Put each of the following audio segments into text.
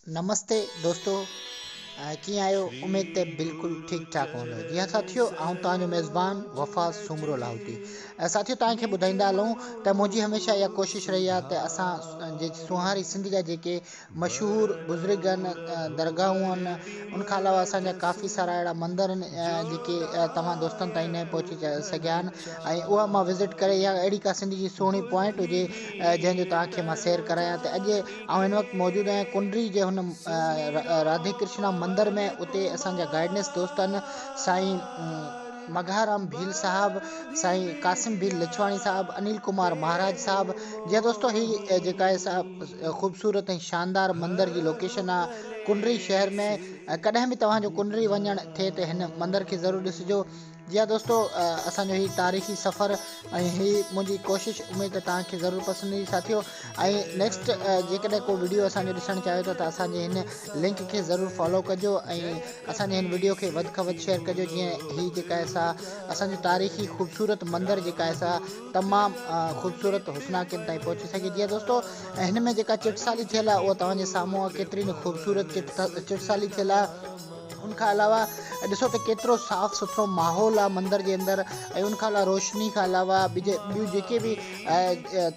نمستي دوستو ڪيئن آهيو اميد تي بلڪل ٺيڪ ٺاڪ هوندو جي ها ساٿيو آئون توهان جو ميزبان وفا سومرو لاهوتي ساٿيو توهان کي ٻڌائيندا هلون ته منهنجي هميشه اها ڪوشش رهي آهي ته اسان جي سونهاري سنڌ جا جيڪي مشهور بزرگ آهن درگاهون آهن ان کان علاوه اسان جا ڪافي سارا اهڙا مندر آهن جيڪي توهان دوستن تائين نه پهچي سگهيا آهن ۽ اها مان وزٽ ڪري يا اهڙي ڪا سنڌ جي سهڻي پوائنٽ هجي جنهن جو توهان کي مان سير ڪرايان ته اڄ آئون هن وقت موجود آهيان ڪنڊري جي هن راڌي ڪرشنا مندر ۾ اتي اسان جا گائيڊنس دوست آهن سائين مگهارام ڀيل صاحب سائين قاسم ڀيل لڇواڻي صاحب انيل ڪمار مهاراج صاحب جي دوستو هي جيڪا آهي سا خوبصورت ۽ شاندار مندر جي لوڪيشن آهي ڪنڊري شهر ۾ ڪڏهن به توهان جو ڪنڊري وڃڻ ٿئي ته هن مندر کي ضرور ڏسجو جي ها دوستو اسان جو هي تاريخي سفر ۽ هي منهنجي ڪوشش اميد ته توهان کي ضرور پسند ايندي ساٿيو ۽ نيڪسٽ جيڪڏهن ڪو وڊيو اسان جو ڏسڻ چاهيو ٿا ته اسان جي هن لنڪ کي ضرور فالو ڪجو ۽ اسان جي هن وڊيو کي وڌ کان وڌ شيئر ڪجو جيئن هي جيڪا آهي سا اسان جو تاريخي خوبصورت مندر جيڪا آهي سا تمام خوبصورت حسناڪين تائين پهچي سگهي جي ها دوستو هن ۾ جيڪا چٽسالي ٿيل آهي اها توهان جي سامهون آهي ڪيتري نه خوبصورت چٽسالي ٿيل آهي ان کان علاوه ڏسو ته ڪيترو صاف سٿرو ماحول آهي مندر جي اندر ۽ ان کان علاوه روشني کان علاوه ٻيون جيڪي به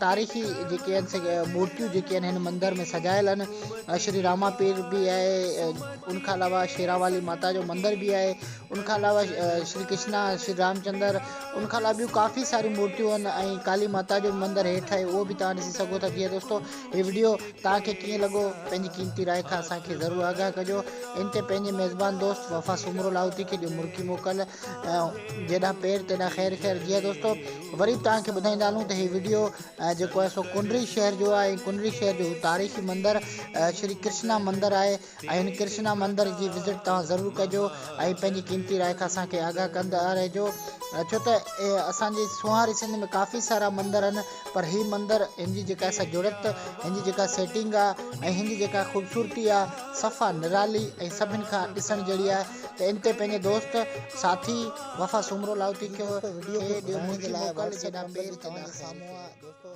تاريخي جيڪي آهن سي مورتيون جيڪي آهن هن مندر ۾ سجايل آهن شري راما پير به آهي ان کان علاوه شيرا والي ماتا جو مندر به آهي ان کان علاوه شري ڪشنا شري رام چندر ان کان علاوه ٻيون ڪافي ساريون مورتيون آهن ۽ ڪالي ماتا جو مندر هيٺ آهي اهو به تان ڏسي سگهو ٿا جيئن دوستو هي وڊيو توهان کي ڪيئن لڳو پنهنجي قيمتي راء کان اسان کي ضرور آگاهه ڪجو ان تي پنهنجي ميزبان دوست وفا سومرو لاهوتي کي ڏيو مرڪي موڪل جيڏانهن پير تيڏانهن خير خير جي دوستو وري به توهان کي ٻڌائيندا هلون ته هي وڊيو جيڪو آهي سو ڪنري شهر جو آهي ڪنري شهر جو تاريخي مندر شري ڪرشنا مندر آهي ۽ ڪرشنا مندر جي وزٽ توهان ضرور ڪجو ۽ پنهنجي قيمتي راء کان اسان کي آگاهه ڪندا رهجو ڇو ته اسان جي سونهاري سنڌ ۾ ڪافي سارا مندر آهن پر هي مندر هن جي جيڪا سا جڙت هن جي جيڪا سيٽنگ آهي ۽ هن جي جيڪا خوبصورتي آهي صفا نرالي ۽ سڀن کان ڏسڻ جهڙي آهي ته ان تي پنهنجي دوست ساٿي وفا سومرو لاهوتي کي وڊيو کي ٺاهڻ جي لاء واٽس اپ نمبر توهان جي سامهون آهي دوستو